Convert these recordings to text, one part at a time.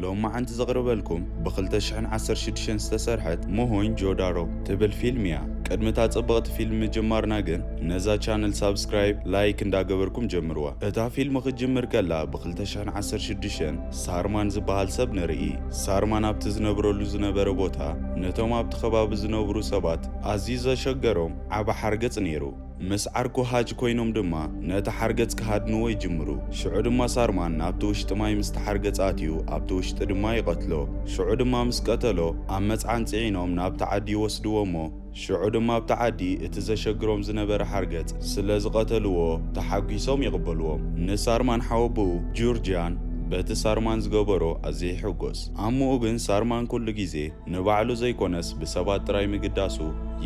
ሎማዓንቲ ዘቕርበልኩም ብ2016 ዝተሰርሐት ሞሆኝ ጆዳሮ ትብል ፊልም እያ። ቅድሚ እታ ጽብቕቲ ፊልም ምጅማርና ግን ነዛ ቻነል ሳብስክራይብ፣ ላይክ እንዳገበርኩም ጀምርዋ። እታ ፊልም ክትጅምር ከላ ብ2016 ሳርማን ዝበሃል ሰብ ንርኢ። ሳርማን ኣብቲ ዝነብረሉ ዝነበረ ቦታ ነቶም ኣብቲ ከባቢ ዝነብሩ ሰባት ኣዝዩ ዘሸገሮም ዓቢ ሓርገጽ ነይሩ። ምስ ዓርኩ ሃጅ ኮይኖም ድማ ነቲ ሓርገጽ ክሃድንዎ ይጅምሩ። ሽዑ ድማ ሳርማን ናብቲ ውሽጢ ማይ ምስቲ ሓርገጽ ኣትዩ ኣብቲ ውሽጢ ድማ ይቐትሎ። ሽዑ ድማ ምስ ቀተሎ ኣብ መጽዓን ጽዒኖም ናብቲ ዓዲ ይወስድዎ እሞ፣ ሽዑ ድማ ኣብቲ ዓዲ እቲ ዘሸግሮም ዝነበረ ሓርገጽ ስለ ዝቐተልዎ ተሓጒሶም ይቕበልዎም። ንሳርማን ሓወቦኡ ጁርጂያን በቲ ሳርማን ዝገበሮ ኣዝየ ይሕጐስ። ኣሞኡ ግን ሳርማን ኩሉ ግዜ ንባዕሉ ዘይኰነስ ብሰባት ጥራይ ምግዳሱ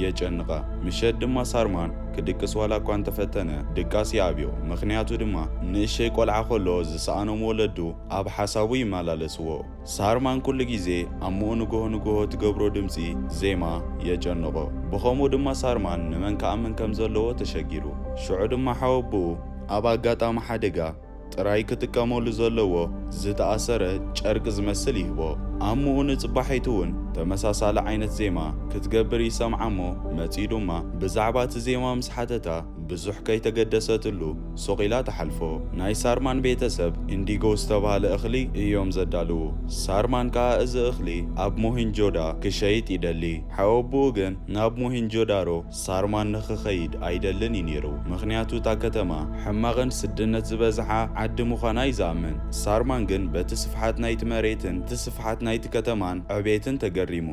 የጨንቓ። ምሸት ድማ ሳርማን ክድቅስ ዋላ እኳ እንተ ፈተነ ድቃስ ይኣብዮ። ምኽንያቱ ድማ ንእሸይ ቈልዓ ከሎ ዝሰኣኖም ወለዱ ኣብ ሓሳቡ ይመላለስዎ። ሳርማን ኩሉ ግዜ ኣምኡ ንግሆ ንግሆ ትገብሮ ድምጺ ዜማ የጨንቖ። ብኸምኡ ድማ ሳርማን ንመን ክኣምን ከም ዘለዎ ተሸጊሩ። ሽዑ ድማ ሓወቦኡ ኣብ ኣጋጣሚ ሓደጋ ጥራይ ክጥቀመሉ ዘለዎ ዝተኣሰረ ጨርቂ ዝመስል ይህቦ። ኣምኡ ንጽባሒቱ'ውን ተመሳሳሊ ዓይነት ዜማ ክትገብር ይሰምዓ'ሞ መጺኡ ድማ ብዛዕባ እቲ ዜማ ምስ ሓተታ፣ ብዙሕ ከይተገደሰትሉ ሱቕ ኢላ ትሓልፎ። ናይ ሳርማን ቤተ ሰብ ኢንዲጎ ዝተባህለ እኽሊ እዮም ዘዳልዉ። ሳርማን ከኣ እዚ እኽሊ ኣብ ሞሂንጆዳ ክሸይጥ ይደሊ። ሓወብኡ ግን ናብ ሞሂንጆዳሮ ሳርማን ንኽኸይድ ኣይደልን እዩ ነይሩ። ምኽንያቱ እታ ከተማ ሕማቕን ስድነት ዝበዝሓ ዓዲ ምዃና እዩ ዝኣምን። ሳርማን ግን በቲ ስፍሓት ናይቲ መሬትን እቲ ስፍሓት ናይቲ ከተማን ዕቤትን ተገሪሙ።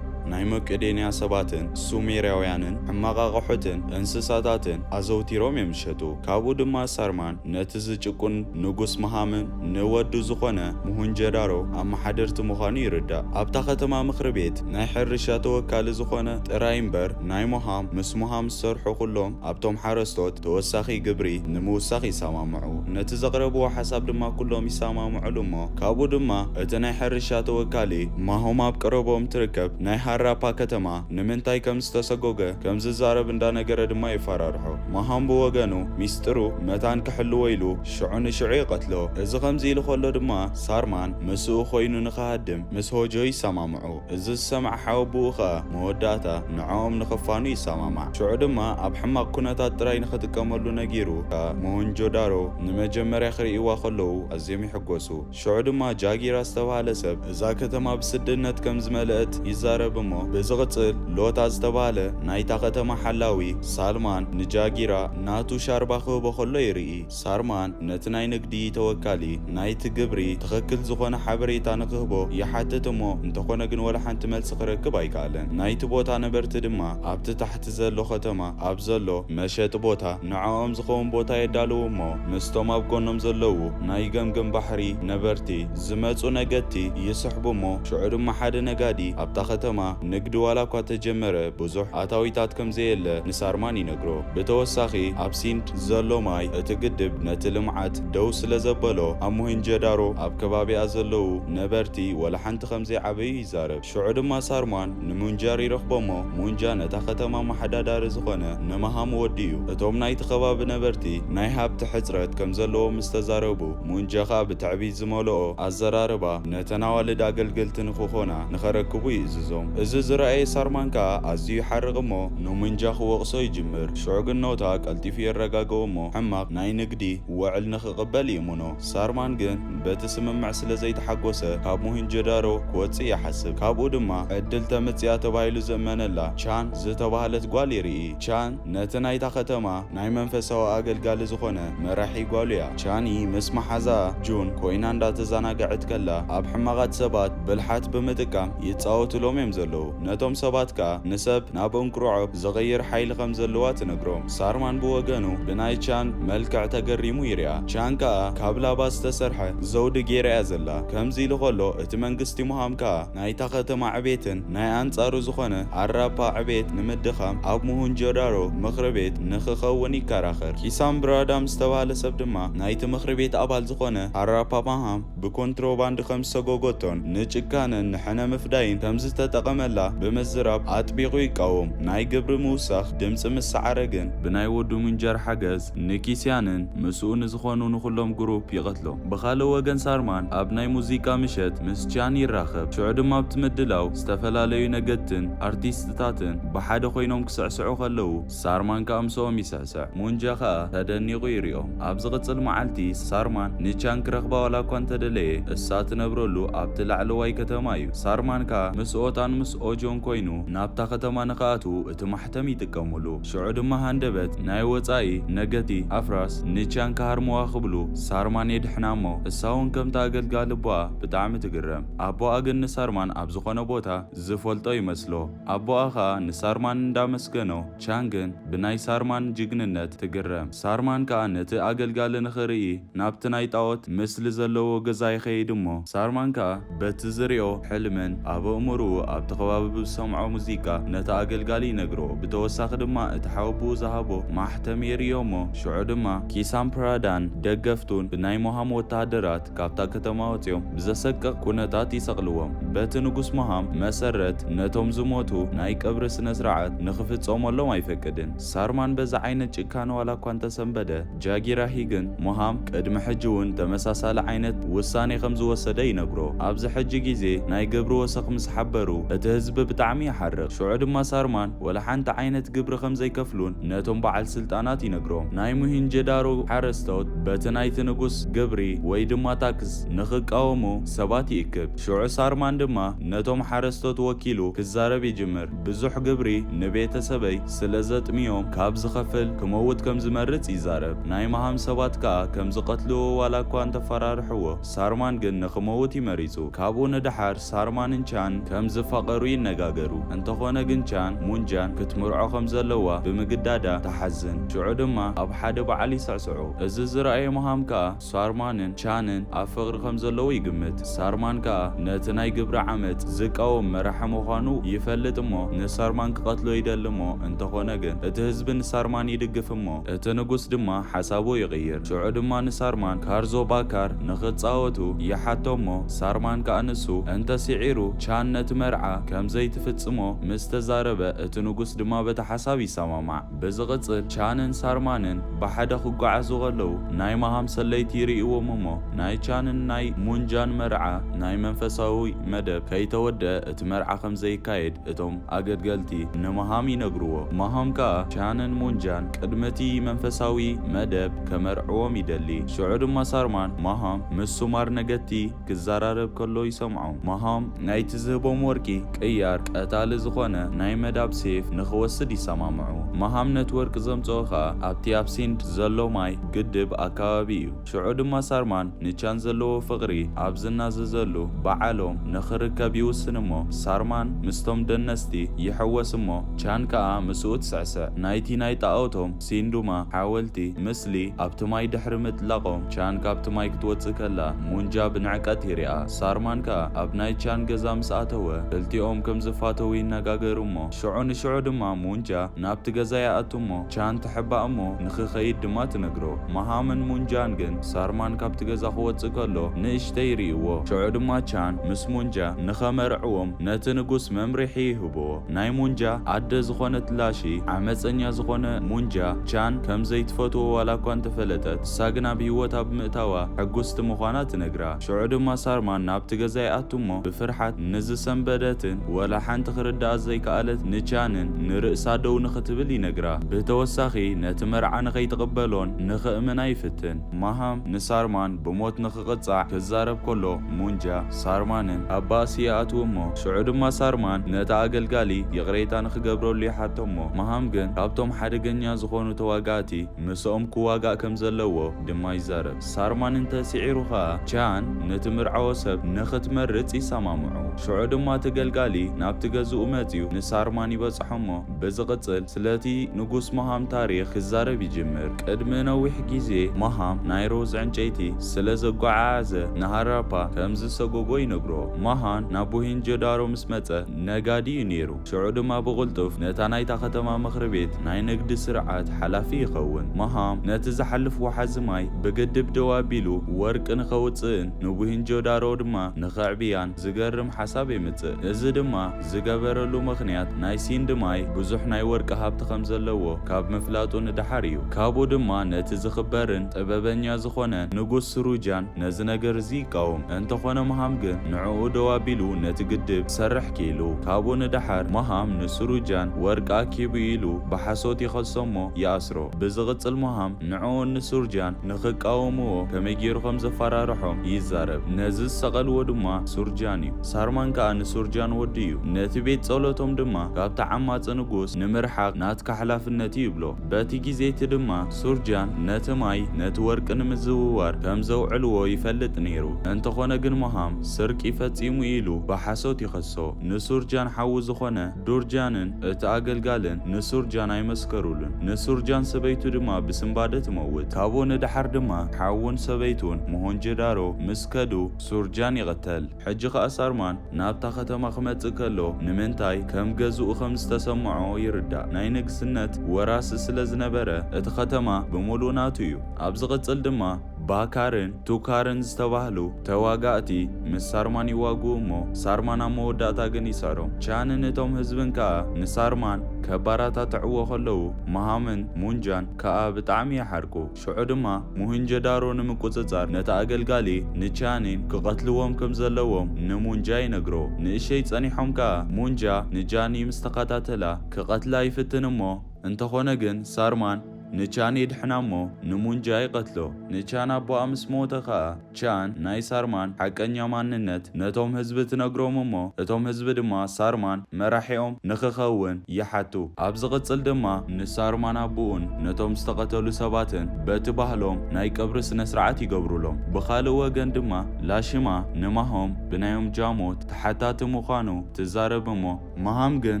ናይ መቄዶንያ ሰባትን ሱሜርያውያንን ሕማቕ ኣቐሑትን እንስሳታትን ኣዘውቲሮም እዮም ዝሸጡ። ካብኡ ድማ ሳርማን ነቲ ዝጭቁን ንጉስ መሃምን ንወዱ ዝኾነ ሙሁንጀዳሮ ኣመሓደርቲ ምዃኑ ይርዳእ። ኣብታ ከተማ ምኽሪ ቤት ናይ ሕርሻ ተወካሊ ዝኾነ ጥራይ እምበር ናይ ሞሃም ምስ ሞሃም ዝሰርሑ ኩሎም ኣብቶም ሓረስቶት ተወሳኺ ግብሪ ንምውሳኽ ይሰማምዑ። ነቲ ዘቕረብዎ ሓሳብ ድማ ኩሎም ይሰማምዑሉ እሞ ካብኡ ድማ እቲ ናይ ሕርሻ ተወካሊ ማሆም ኣብ ቀረብኦም ትርከብ ናይ ሃራፓ ከተማ ንምንታይ ከም ዝተሰጎገ ከም ዝዛረብ እንዳነገረ ድማ የፈራርሖ። ማሆም ብወገኑ ሚስጥሩ መታን ክሕልዎ ኢሉ ሽዑ ንሽዑ ይቐትሎ። እዚ ከምዚ ኢሉ ከሎ ድማ ሳርማን ምስኡ ኮይኑ ንክሃድም ምስ ሆጆ ይሰማምዑ። እዚ ዝሰምዐ ሓወብኡ ኸኣ መወዳእታ ንዕኦም ንኽፋኑ ይሰማማዕ። ሽዑ ድማ ኣብ ሕማቕ ኩነታት ጥራይ ንኽጥቀመሉ ነጊሩ እታ ሞሆንጆዳሮ ንመጀመርያ ክርእይዋ ከለዉ ኣዝዮም ይሕጎሱ። ሽዑ ድማ ጃጊራ ዝተባህለ ሰብ እዛ ከተማ ብስድነት ከም ዝመልእት ይዛረብ እሞ ብዝቕጽል ሎታ ዝተባህለ ናይታ ከተማ ሓላዊ ሳልማን ንጃጊራ ናቱ ሻርባ ክህቦ ከሎ ይርኢ። ሳርማን ነቲ ናይ ንግዲ ተወካሊ ናይቲ ግብሪ ትኸክል ዝኾነ ሓበሬታ ንክህቦ ይሓትት እሞ እንተኾነ ግን ወላ ሓንቲ መልሲ ክረክብ ኣይከኣለን። ናይቲ ቦታ ነበርቲ ድማ ኣብቲ ታሕቲ ዘሎ ከተማ ኣብ ዘሎ መሸጢ ቦታ ንዐኦም ዝኸውን ቦታ የዳልዉ እሞ ምስቶም ኣብ ጎኖም ዘለዉ ናይ ገምገም ባሕሪ ነበርቲ ዝመጹ ነገድቲ ይስሕቡ እሞ ሽዑ ድማ ሓደ ነጋዲ ኣብታ ከተማ ንግዲ ዋላ እኳ ተጀመረ ብዙሕ ኣታዊታት ከምዘየለ ንሳርማን ይነግሮ። ብተወሳኺ ኣብ ሲንድ ዘሎ ማይ እቲ ግድብ ነቲ ልምዓት ደው ስለዘበሎ ኣብ ሞሄንጀዳሮ ኣብ ከባቢኣ ዘለዉ ነበርቲ ወላሓንቲ ከምዘይዓበዩ ይዛረብ። ሽዑ ድማ ሳርማን ንሙንጃር ይረኽቦሞ፣ ሙንጃ ነታ ከተማ ኣመሓዳዳሪ ዝኾነ ንማሃም ወዲ እዩ። እቶም ናይቲ ከባቢ ነበርቲ ናይ ሃብቲ ሕጽረት ከምዘለዎም ምስተዛረቡ ሙንጃ ከኣ ብትዕቢት ዝመልኦ ኣዘራርባ ነተን ኣዋልድ ኣገልገልቲ ንክኾና ንኸረክቡ ይእዝዞም። እዚ ዝረኣየ ሳርማን ከኣ ኣዝዩ ይሓርቕ እሞ፣ ኑምንጃ ክወቕሶ ይጅምር። ሽዑ ግን ኖታ ቀልጢፉ የረጋግኦ እሞ ሕማቕ ናይ ንግዲ ወዕል ንክቕበል ይእምኖ። ሳርማን ግን በቲ ስምምዕ ስለ ዘይተሓጎሰ ካብ ሞሂንጆዳሮ ክወጽእ ይሓስብ። ካብኡ ድማ ዕድል ተምጽኣ ተባሂሉ ዝእመነላ ቻን ዝተባህለት ጓል ይርኢ። ቻን ነቲ ናይታ ከተማ ናይ መንፈሳዊ ኣገልጋሊ ዝኾነ መራሒ ጓሉ'ያ። ቻኒ ምስ መሓዛኣ ጁን ኮይና እንዳተዛናገዐት ከላ ኣብ ሕማቓት ሰባት ብልሓት ብምጥቃም ይጻወቱሎም'ዮም ዘለዉ። ነቶም ሰባት ከኣ ንሰብ ናብ እንቁርዖ ዝቕይር ሓይሊ ከም ዘለዋ ትነግሮም። ሳርማን ብወገኑ ብናይ ቻን መልክዕ ተገሪሙ ይሪኣ። ቻን ከኣ ካብ ላባ ዝተሰርሐ ዘውዲ ጌራ'ያ ዘላ። ከምዚ ኢሉ ከሎ እቲ መንግስቲ ሙሃም ከኣ ናይታ ከተማ ዕቤትን ናይ ኣንጻሩ ዝኾነ ኣራፓ ዕቤት ንምድኻም ኣብ ሙሁንጆዳሮ ምኽሪ ቤት ንኽኸውን ይከራኸር። ኪሳምብራዳም ዝተባህለ ሰብ ድማ ናይቲ ምኽሪ ቤት ኣባል ዝኾነ ኣራፓ ማሃም ብኮንትሮባንድ ከም ዝሰጎጎቶን ንጭካነን ንሕነ ምፍዳይን ከም ዝተጠቐመላ ብምዝራብ ኣጥቢቑ ይቃወም። ናይ ግብሪ ምውሳኽ ድምጺ ምስ ሰዓረ ግን፣ ብናይ ወዱ ምንጀር ሓገዝ ንኪስያንን ምስኡ ንዝኾኑ ንኹሎም ግሩፕ ይቐትሎም። ብኻልእ ወገን ሳርማን ኣብ ናይ ሙዚቃ ምሸት ምስ ቺያን ይራኸብ። ሽዑ ድማ ኣብቲ ምድላው ዝተፈላለዩ ነገድትን ኣርቲስትታትን ብሓደ ኮይኖም ክስዕስዑ ከለዉ፣ ሳርማን ከኣ ምሰኦም ይስዕስዕ። ሙንጃ ከኣ ተደኒቑ ይሪኦም። ኣብ ዝቕጽል መዓልቲ ሳርማን ኒቻን ክረኽባ ዋላ እኳ እንተደለየ፣ እሳ ትነብረሉ ኣብቲ ላዕለዋይ ከተማ እዩ። ሳርማን ከኣ ምስ ኦታን ምስ ኦጆን ኮይኑ ናብታ ከተማ ንክኣትዉ እቲ ማሕተም ይጥቀሙሉ። ሽዑ ድማ ሃንደበት ናይ ወጻኢ ነገቲ ኣፍራስ ኒቻን ክሃርምዋ ክብሉ ሳርማን የድሕና እሞ እሳ እውን ከምቲ ኣገልጋሊ ኣቦኣ ብጣዕሚ ትግረም። ኣቦኣ ግን ንሳርማን ኣብ ዝኾነ ቦታ ዝፈልጦ ይመስሎ። ኣቦኣ ከኣ ንሳርማን እንዳመስገኖ፣ ቻንግን ብናይ ሳርማን ጅግንነት ትግረም። ሳርማን ከኣ ነቲ ኣገልጋሊ ንኽርኢ ናብቲ ናይ ጣኦት ምስሊ ዘለዎ ገዛ ይኸይድ እሞ፣ ሳርማን ከኣ በቲ ዝሪኦ ሕልምን ኣብ ኣእምርኡ ኣብቲ ከባቢ ብዝሰምዖ ሙዚቃ ነቲ ኣገልጋሊ ይነግሮ። ብተወሳኺ ድማ እቲ ሓወብኡ ዝሃቦ ማሕተም የርእዮ እሞ፣ ሽዑ ድማ ኪሳምፕራዳን ደገፍቱን ብናይ ሞሃም ወተሃደራት፣ ካብታ ከተማ ወጺኦም ብዘሰቅቕ ኩነታት ይሰቕልዎም። በቲ ንጉስ መሃም መሰረት ነቶም ዝሞቱ ናይ ቀብሪ ስነስርዓት ንኽፍጸመሎም ኣይፈቅድን። ሳርማን በዚ ዓይነት ጭካነ ዋላኳ እንተሰንበደ፣ ጃጊራሂ ግን መሃም ቅድሚ ሕጂ'ውን ተመሳሳሊ ዓይነት ውሳኔ ከምዝወሰደ ይነግሮ። ኣብዚ ሕጂ ግዜ ናይ ግብሪ ወሰኽ ምስ ሓበሩ እቲ ህዝቢ ብጣዕሚ ይሓርቕ። ሽዑ ድማ ሳርማን። ወላ ሓንቲ ዓይነት ግብሪ ከም ዘይከፍሉን ነቶም በዓል ስልጣናት ይነግሮም። ናይ ሞሄንጀዳሮ ሓረስቶት በቲ ናይቲ ንጉስ ግብሪ ወይ ድማ ታክስ ንኽቃወሙ ሰባት ይእክብ። ሽዑ ሳርማን ድማ ነቶም ሓረስቶት ወኪሉ ክዛረብ ይጅምር፣ ብዙሕ ግብሪ ንቤተሰበይ ስለ ዘጥምዮም ካብ ዝኸፍል ክመውት ከም ዝመርጽ ይዛረብ። ናይ መሃም ሰባት ከኣ ከም ዝቐትልዎ ዋላ እኳ እንተፈራርሕዎ ሳርማን ግን ንኽመውት እዩ መሪጹ። ካብኡ ንደሓር፣ ሳርማንን ቻን ከም ዝፋቐሩ ይነጋገሩ። እንተኾነ ግን ቻን፣ ሙንጃን ክትምርዖ ከም ዘለዋ ብምግዳዳ ትሓዝን። ሽዑ ድማ ኣብ ሓደ በዓል ይስዕስዑ። እዚ ዝረኣየ ሞሃም ከኣ ሳርማንን ቻንን ኣብ ፍቕሪ ከም ዘለዉ ይግምት። ሳርማን ከኣ ነቲ ናይ ግብረ ዓመጽ ዝቃወም መራሒ ምዃኑ ይፈልጥ እሞ ንሳርማን ክቐትሎ ይደሊ እሞ እንተኾነ ግን እቲ ህዝቢ ንሳርማን ይድግፍ እሞ እቲ ንጉስ ድማ ሓሳቡ ይቕይር። ሽዑ ድማ ንሳርማን ካርዞ ባካር፣ ንኽጻወቱ ይሓቶ እሞ ሳርማን ከኣ ንሱ እንተ ስዒሩ ቻን ነቲ መርዓ ከም ዘይትፍጽሞ ምስ ተዛረበ እቲ ንጉስ ድማ በቲ ሓሳብ ይሰማማዕ። ብዝቕጽል ቻንን ሳርማንን ብሓደ ክጓዓዙ ከለዉ ናይ መሃም ሰለይቲ ይርእይዎም እሞ ናይ ቻንን ናይ ሙንጃን መርዓ ናይ መንፈሳዊ መደብ ከይተወድኣ እቲ መርዓ ከም ዘይካየድ እቶም ኣገድገልቲ ንመሃም ይነግርዎ፣ መሃም ከኣ ቻንን ሙንጃን ቅድሚ እቲ መንፈሳዊ መደብ ከመርዕዎም ይደሊ። ሽዑ ድማ ሳርማን መሃም ምስ ሱማር ነገድቲ ክዘራረብ ከሎ ይሰምዖ። መሃም ናይቲ ዝህቦም ወርቂ ቅያር ቀታሊ ዝኾነ ናይ መዳብ ሴፍ ንኽወስድ ይሰማምዑ። መሃም ነቲ ወርቂ ዘምጽኦ ከኣ ኣብቲ ኣብ ሲንድ ዘሎ ማይ ግድብ ኣከባቢ እዩ። ሽዑ ድማ ሳርማን ንቻን ዘለዎ ፍቕሪ ኣብ ዝናዘዘሉ ብዓሎም ንኽርከብ ይውስን እሞ ሳርማን ምስቶም ደነስቲ ይሕወስ እሞ ቻን ከኣ ምስኡ ትስዕስዕ። ናይቲ ናይ ጣኦቶም፣ ሲንዱማ፣ ሓወልቲ፣ ምስሊ፣ ኣብቲ ማይ ድሕሪ ምጥላቖም ቻን ካብቲ ማይ ክትወጽእ ከላ ሙንጃ ብንዕቀት ይሪኣ። ሳርማን ከኣ ኣብ ናይ ቻን ገዛ ምስ ኣተወ ክልቲኦም ከም ዝፋተዉ ይነጋገሩ እሞ ሽዑ ንሽዑ ድማ ሙንጃ ናብቲ ገዛ ይኣቱ እሞ ቻን ትሕባእ እሞ ንኽኸይድ ድማ ትነግሮ። መሃምን ሙንጃን ግን ሳርማን ካብቲ ገዛ ክወጽእ ከሎ ንእሽተይ ይርእይዎ። ሽዑ ድማ ቻን ምስ ሙንጃ ንኸመርዕዎም ነቲ ንጉስ መምርሒ ይህብዎ። ናይ ሙንጃ ኣደ ዝኾነት ላሺ ዓመጸኛ ዝኾነ ሙንጃ ቻን ከም ዘይትፈትዎ ዋላኳ እንተፈለጠት፣ ንሳ ግን ኣብ ህይወታ ብምእታዋ ሕጉስቲ ምዃና ትነግራ። ሽዑ ድማ ሳርማን ናብቲ ገዛ ይኣቱ እሞ ብፍርሓት ንዝሰንበደትን ወላ ሓንቲ ክርድኣ ዘይከኣለት ንቻንን ንርእሳ ደው ንኽትብል ይነግራ። ብተወሳኺ ነቲ መርዓ ንኸይትቕበሎን ንኽእምና ይፍትን። ማሃም ንሳርማን ብሞት ንኽቕጻዕ ክዛረብ ከሎ ሙንጃ ሳርማንን ኣብ ባእሲ ይኣትዉ እሞ ሽዑ ድማ ሳርማን ነቲ ኣገልጋሊ ይቕሬታ ንኽገብረሉ ይሓቶ እሞ ማሃም ግን ካብቶም ሓደገኛ ዝኾኑ ተዋጋእቲ ምስኦም ክዋጋእ ከምዘለዎ ድማ ይዛረብ። ሳርማን እንተ ስዒሩ ኸኣ፣ ቻን ነቲ ምርዓዎ ሰብ ንኽትመርጽ ይሰማምዑ። ሽዑ ድማ እቲ ገልጋሊ ናብቲ ገዝኡ መጺኡ ንሳርማን ይበጽሖ እሞ፣ ብዝቕጽል ስለቲ ንጉስ ማሃም ታሪኽ ክዛረብ ይጅምር። ቅድሚ ነዊሕ ግዜ፣ ማሃም ናይ ሮዝ ዕንጨይቲ ስለ ዘጓዓዓዘ ንሃራፓ ከም ዝሰጐጎ ይነግሮ። ማሃን ናብ ሞሄንጆዳሮ ምስ መጸ፣ ነጋዲ እዩ ነይሩ። ሽዑ ድማ ብቕልጡፍ ነታ ናይታ ከተማ ምኽሪ ቤት ናይ ንግዲ ስርዓት ሓላፊ ይኸውን። መሃም ነቲ ዝሓልፍ ወሓዚ ማይ ብግድብ ደው ኣቢሉ ወርቂ ንኸውጽእን ንቡሂንጆዳሮ ድማ ንኸዕብያን ዝገርም ሓሳብ የምጽእ። እዚ ድማ ዝገበረሉ ምኽንያት ናይ ሲንድ ማይ ብዙሕ ናይ ወርቂ ሃብቲ ከም ዘለዎ ካብ ምፍላጡ ንደሓር እዩ። ካብኡ ድማ ነቲ ዝኽበርን ጥበበኛ ዝኾነ ንጉስ ስሩጃን ነዚ ነገር እዚ ይቃወም። እንተኾነ መሃም ግን ንዕኡ ደው ኣቢሉ ነቲ ግድብ ክሰርሕ። ኪኢሉ ካብኡ ንደሓር ሞሃም ንሱሩጃን ወርቂ ኣኪቡ ኢሉ ብሓሶት ይኸሶ'ሞ ይኣስሮ። ብዝቕጽል ሞሃም ንዕኡን ንሱርጃን ንኽቃወምዎ ከመይ ጌሩ ከም ዘፋራርሖም ይዛረብ። ነዚ ዝሰቐልዎ ድማ ሱርጃን'ዩ። ሳርማን ከኣ ንሱርጃን ወዱ'ዩ። ነቲ ቤት ጸሎቶም ድማ ካብቲ ዓማጺ ንጉስ ንምርሓቕ ናትካ ሓላፍነት'ዩ ይብሎ። በቲ ግዜ'ቲ ድማ ሱርጃን ነቲ ማይ ነቲ ወርቂ ንምዝውዋር ከም ዘውዕልዎ ይፈልጥ ነይሩ። እንተኾነ ግን ሞሃም ስርቂ ፈጺሙ ኢሉ ብሓሶት ይኸሶ። ንሱርጃን ሓዉ ዝኾነ ዱርጃንን እቲ ኣገልጋልን ንሱርጃን ኣይመስከሩሉን። ንሱርጃን ሰበይቱ ድማ ብስንባደ ትመውት። ካብኡ ንደሓር ድማ ሓዉን ሰበይቱን ሞሆንጆዳሮ ምስ ከዱ ሱርጃን ይቕተል። ሕጂ ኸኣ ሳርማን ናብታ ኸተማ ኺመጽእ ከሎ፣ ንምንታይ ከም ገዝኡ ኸም ዝተሰምዖ ይርዳእ። ናይ ንግስነት ወራሲ ስለ ዝነበረ፣ እቲ ኸተማ ብምሉኡ ናቱ እዩ። ኣብ ዚቕጽል ድማ፣ ባካርን ቱካርን ዝተባህሉ ተዋጋእቲ ምስ ሳርማን ይዋግኡ እሞ፣ ሳርማን ኣብ መወዳእታ ግን ይስዕሮም። ቻንን እቶም ህዝብን ከኣ ንሳርማን ኬበረታትዕዎ ኸለዉ፣ መሃምን ሙንጃን ከኣ ብጣዕሚ ይሓርቁ። ሽዑ ድማ ሞሄንጆዳሮ ንምቁጽጻር ነቲ ኣገልጋሊ ንቻኒን ክቐትልዎም ከም ዘለዎም ንሙንጃ ይነግሮ። ንእሸይ ጸኒሖም ከኣ ሙንጃ ንጃኒ ምስ ተኸታተላ ክቐትላ ይፍትን እሞ እንተኾነ ግን ሳርማን ንቻን የድሕና እሞ ንሙንጃ ይቐትሎ። ንቻን ኣቦኣ ምስ ሞተ ከኣ። ቻን ናይ ሳርማን ሓቀኛ ማንነት ነቶም ህዝቢ ትነግሮም እሞ እቶም ህዝቢ ድማ ሳርማን መራሒኦም ንክኸውን ይሓቱ። ኣብ ዝቕጽል ድማ ንሳርማን ኣቡኡን ነቶም ዝተቐተሉ ሰባትን በቲ ባህሎም ናይ ቀብሪ ስነስርዓት ይገብሩሎም። ብኻልእ ወገን ድማ ላሽማ ንማሆም ብናዮም ጃሞት ተሓታቲ ምዃኑ ትዛረብ እሞ፣ መሃም ግን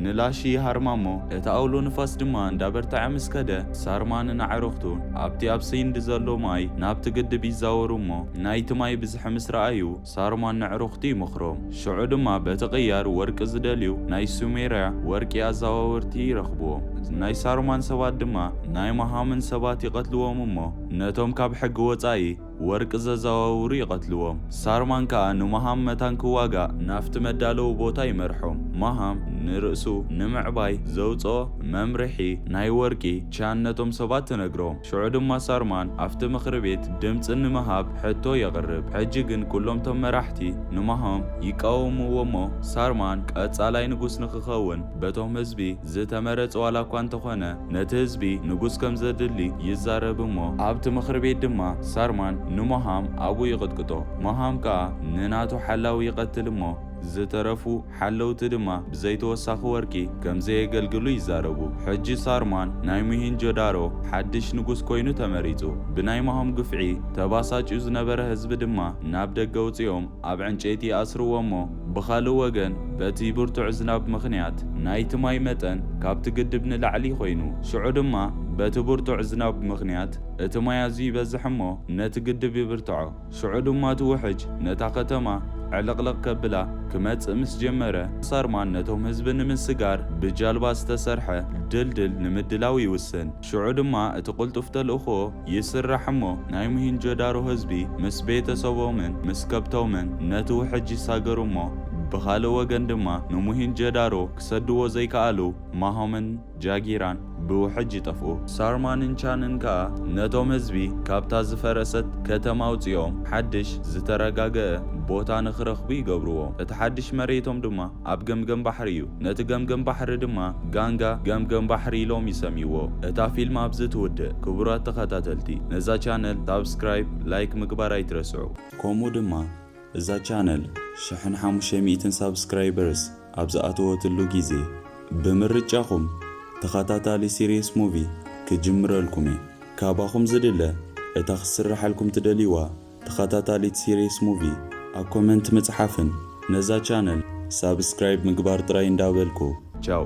ንላሺ ይሃርማ እሞ፣ እቲ ኣውሎ ንፋስ ድማ እንዳበርተዐ ምስ ከደ፣ ሳርማንን ኣዕሩኽቱን ኣብቲ ኣብ ሰይንድ ዘሎ ማይ ናብቲ ግድብ ይዛወሩ እሞ፣ ናይቲ ማይ ብዝሒ ምስ ረኣዩ፣ ሳርማን ነዕሩኽቱ ይመኽሮም። ሽዑ ድማ በቲ ቅያር ወርቂ ዝደልዩ ናይ ሱሜርያ ወርቂ ኣዛዋወርቲ ይረኽቡዎም። ናይ ሳርማን ሰባት ድማ ናይ መሃምን ሰባት ይቐትሉዎም እሞ፣ ነቶም ካብ ሕጊ ወጻኢ፣ ወርቂ ዘዘዋውሩ ይቐትልዎም። ሳርማን ከኣ ንማሃም መታን ክዋጋእ ናብቲ መዳለዊ ቦታ ይመርሖም። ማሃም ንርእሱ ንምዕባይ ዘውጽኦ መምርሒ ናይ ወርቂ ቻን ነቶም ሰባት ትነግሮም። ሽዑ ድማ ሳርማን ኣብቲ ምኽሪ ቤት ድምጺ ንምሃብ ሕቶ የቕርብ። ሕጂ ግን ኩሎም እቶም መራሕቲ ንማሃም ይቃወምዎ'ሞ ሳርማን ቀጻላይ ንጉስ ንኽኸውን በቶም ህዝቢ ዝተመረጸ ዋላ እኳ እንተኾነ ነቲ ህዝቢ ንጉስ ከም ዘድሊ ይዛረብ እሞ ኣብቲ ምኽሪ ቤት ድማ ሳርማን ንሞሃም ኣብኡ ይቕጥቅጦ ሞሃም ከኣ ንናቱ ሓላዊ ይቐትል እሞ ዝተረፉ ሓለውቲ ድማ ብዘይ ተወሳኺ ወርቂ ከም ዘየገልግሉ ይዛረቡ። ሕጂ ሳርማን ናይ ሙሂንጆዳሮ ሓድሽ ንጉስ ኮይኑ ተመሪጹ። ብናይ ሞሃም ግፍዒ ተባሳጭዩ ዝነበረ ህዝቢ ድማ ናብ ደገ ኣውጺኦም፣ ኣብ ዕንጨይቲ ይኣስርዎ እሞ ብኻልእ ወገን በቲ ብርቱዕ ዝናብ ምኽንያት ናይቲ ማይ መጠን ካብቲ ግድብ ንላዕሊ ኮይኑ ሽዑ ድማ በቲ ብርቱዕ ዝናብ ምኽንያት እቲ ማይ ኣዝዩ ይበዝሕ እሞ ነቲ ግድብ ይብርትዖ ሽዑ ድማ እቲ ውሕጅ ነታ ከተማ ዕልቕልቕ ከብላ ክመጽእ ምስ ጀመረ ሳርማን ነቶም ህዝቢ ንምስጋር ብጃልባ ዝተሰርሐ ድልድል ንምድላው ይውስን። ሽዑ ድማ እቲ ቅልጡፍ ተልእኾ ይስራሕ እሞ ናይ ሙሂንጆዳሮ ህዝቢ ምስ ቤተ ሰቦምን ምስ ከብቶምን ነቲ ውሕጅ ይሳገሩ እሞ ብኻልእ ወገን ድማ ንሙሂንጀዳሮ ክሰድዎ ዘይከኣሉ ማሆምን ጃጊራን ብውሕጅ ይጠፍኡ። ሳርማንን ቻንን ከኣ ነቶም ህዝቢ ካብታ ዝፈረሰት ከተማ ኣውጺኦም ሓድሽ ዝተረጋገኣ ቦታ ንኽረኽቡ ይገብርዎም። እቲ ሓድሽ መሬቶም ድማ ኣብ ገምገም ባሕሪ እዩ። ነቲ ገምገም ባሕሪ ድማ ጋንጋ ገምገም ባሕሪ ኢሎም ይሰምይዎ። እታ ፊልም ኣብዚ ትውድእ። ክቡራት ተኸታተልቲ ነዛ ቻነል ሳብስክራይብ ላይክ ምግባር ኣይትረስዑ። ከምኡ ድማ እዛ ቻነል ሽሕን ሓሙሽተ ሚእትን ሳብስክራይበርስ ኣብ ዝኣተወትሉ ግዜ ብምርጫኹም ተኸታታሊ ሲርየስ ሙቪ ክጅምረልኩም እየ። ካባኹም ዝድለ እታ ክትስረሓልኩም ትደልይዋ ተኸታታሊት ሲሪየስ ሙቪ ኣብ ኮመንት ምጽሓፍን ነዛ ቻነል ሳብስክራይብ ምግባር ጥራይ እንዳበልኩ። ቻው